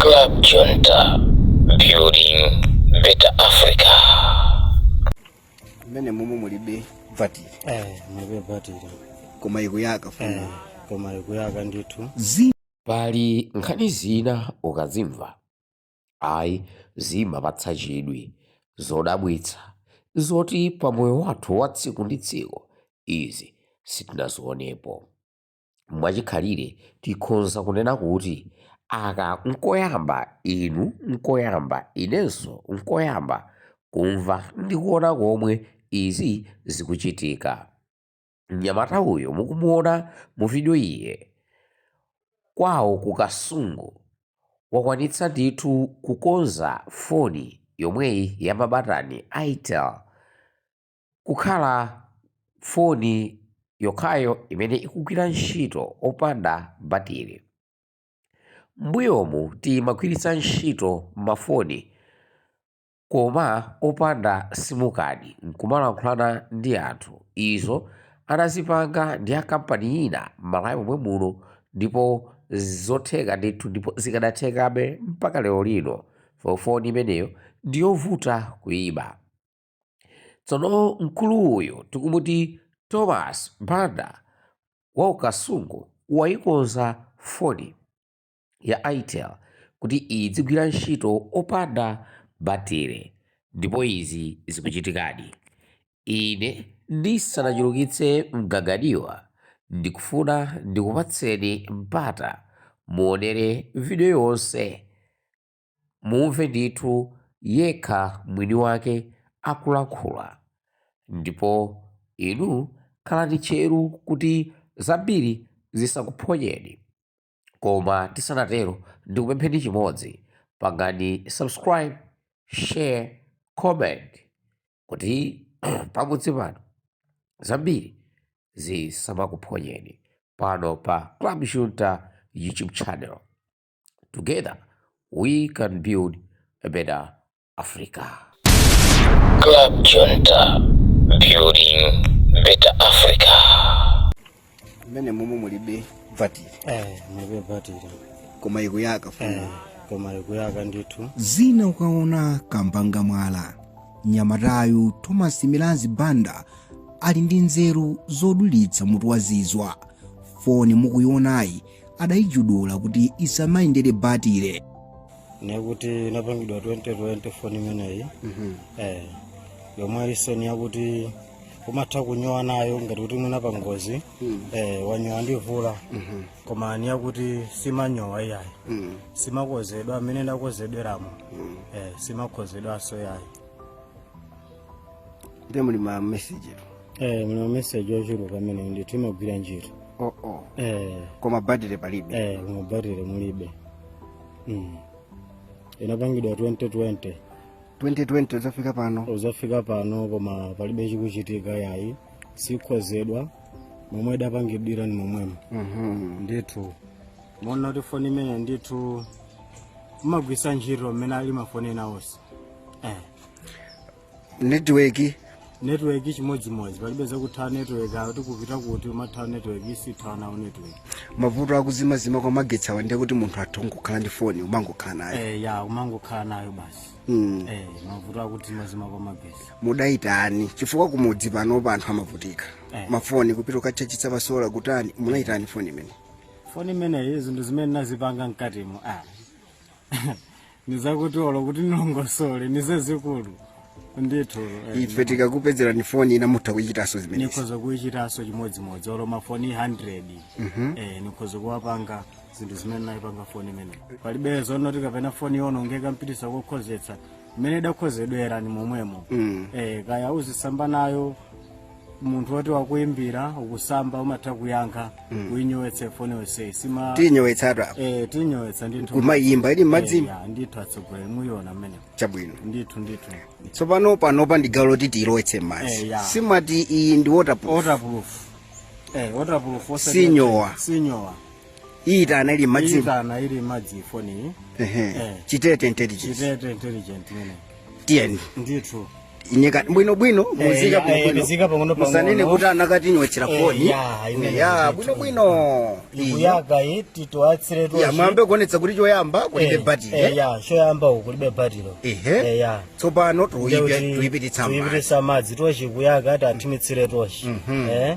Club Junta, building better Africa. mmenemo mulibe batiri eh mulibe batiri koma ikuyaka eh foni koma ikuyaka ndithu pali nkhani zina ukazimva ayi zimapatsa chidwi zodabwitsa zoti pa moyo wathu wa tsiku ndi tsiku izi sitinazionepo mwachikhalire tikhonza kunena kuti aka nkoyamba inu nkoyamba inenso nkoyamba kumva ndi kuona komwe izi zikuchitika. Mnyamata uyu mukumuona mu video iye kwawo ku Kasungu wakwanitsa ndithu kukonza foni yomweyi ya mabatani Itel kukhala foni yokhayo imene ikugwira ntchito opanda batiri. M'mbuyomu timagwiritsa ntchito mafoni koma opanda simukadi n'kumalankhulana ndi anthu. Izo anazipanga ndi a kampani ina m'Malawi momwe muno ndipo zotheka ndithu ndipo zikanathekabe mpaka lero lino. Foni imeneyo ndi yovuta kuiba. tsono mkulu uyu tikumuti thomas banda wa ku Kasungu wayikonza foni ya itel kuti idzigwira ntchito opanda batire ndipo izi zikuchitikadi ine ndisanachulukitse mgagadiwa ndikufuna ndikupatseni mpata muonere video yonse Mumve ndithu yekha mwini wake akulankhula, ndipo inu khalani tcheru kuti zambiri zisakuphonyeni. Koma tisanatero ndikupempheni chimodzi, pangani subscribe, share, comment kuti pamudzi pano zambiri zisamakuphonyeni pano pa Club Junta YouTube channel. Together we can build a better Africa. Club Junta, building better Africa. mmenemo mulibe batiri eh mulibe batiri koma ikuyaka foni koma ikuyaka ndithu zina ukaona kamba anga mwala mnyamatayu thomas milanzi banda ali ndi nzeru zodulitsa mutu wazizwa foni mukuionayi adaijadula kuti isamayendere batire ni yakuti inapangidwa 2020 foni imeneyi eh, yomwe ilinso ni yakuti umatha kunyowa nayo ngati kuti mwina pa ngozi eh, wanyowa ndi mvula koma ni yakuti simanyowa iyayi simakonzedwa mmene idakonzedweramo eh, simakonzedwanso iyayi nde muli ma message eh muli ma message ochuluka amene ndithu imagwira ntchito oh, oh. eh koma battery palibe eh koma battery mulibe mm. inapangidwa 2020 2020 kudzafika pano kudzafika pano koma palibe chikuchitika yayi sikonzedwa momwe idapangidwira ni momwemo mhm ndithu moona kuti foni imeneyi ndithu umagwiritsa ntchito mmene ali mafoni ena onse eh netiweki network chimodzimodzi palibe zakutha network awo tikupita kuti umatha network isithanawo network mavuto akuzimazima kwa magetsi awa ndiye kuti munthu atha kukhala ndi foni umangokhala nayo eh ya umangokhala nayo basi Mm. eh mavuto akuzimazima kwa magetsi mudaitani chifukwa kumudzi panopa anthu amavutika Eh. mafoni kupita kukatchajitsa pasola kutani munaitani foni imeneyi foni imeneyi zinthu zimene nazipanga mkatimo ah nizakuti olo kuti nilongosole ni zazikulu ndithu eh, ife titakupezerani foni ina mutha kuchitanso zimenezi nikhoza kuichitanso chimodzimodzi olo mafoni 100 eh, nikhoza kuwapanga zinthu zimene naipanga foni imeneyi palibe zonoti kapena foni yaonongeka nkupititsa kokonzetsa mmene idakonzedwera ni momwemo eh, kaya uzisamba nayo munthu woti wakuimbira ukusamba umatha kuyankha uinyowetse foni yonseyi sima tinyowetsatu apa eh, tinyowetsa ndithu kumayimba ili mmadzimu Eh, ya, ndithu atsogoleri muiona mmenemo chabwino ndithu ndithu tsopano panopa ndi gawo loti tiyilowetse Eh, mmadzi ya. simati iyi ndi waterproof waterproof eh, waterproof osati- Sinyowa. sinyowa iitana ili mmadzi iitana ili mmadzi foni ehe eh. chitete intelligence chitete intelligence mene tiyeni ndithu muiyika bwino bwino eh, muziika bwino eh, bwino muziika pang'ono pang'ono musanene kuti anakatinyowetsera foni ya bwino bwino ikuyaka iyi tiyatsire to ya mwambe kuonetsa kuti choyamba kulibe batiri eh ya choyamba uku kulibe batiri ehe ya tsopano tiyipi tiyipititsa mmadzi tiyipititsa mmadzi tochi kuyaka ati athimitsire tochi mhm. eh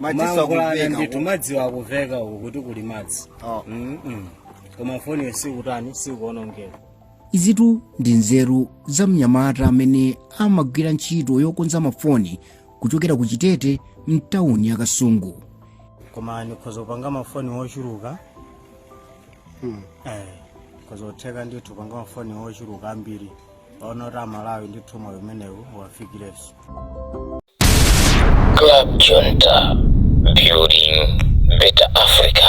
madzinso mmakuluwa akuveka ndithu madzi akuveka ukuku kuti kuli madzi Oh. Mm-mm. koma foniyo sikutani sikuonongeka izitu ndi nzeru za mnyamata amene amagwira ntchito yokonza mafoni kuchokera ku chitete mtawuni ya kasungu koma ndikhoza kupanga mafoni ochuluka eh nzotheka ndithu kupanga mafoni ochuluka ambiri ono ta malawi ndi thuma umenewu wafikireso Club Junta, building better Africa.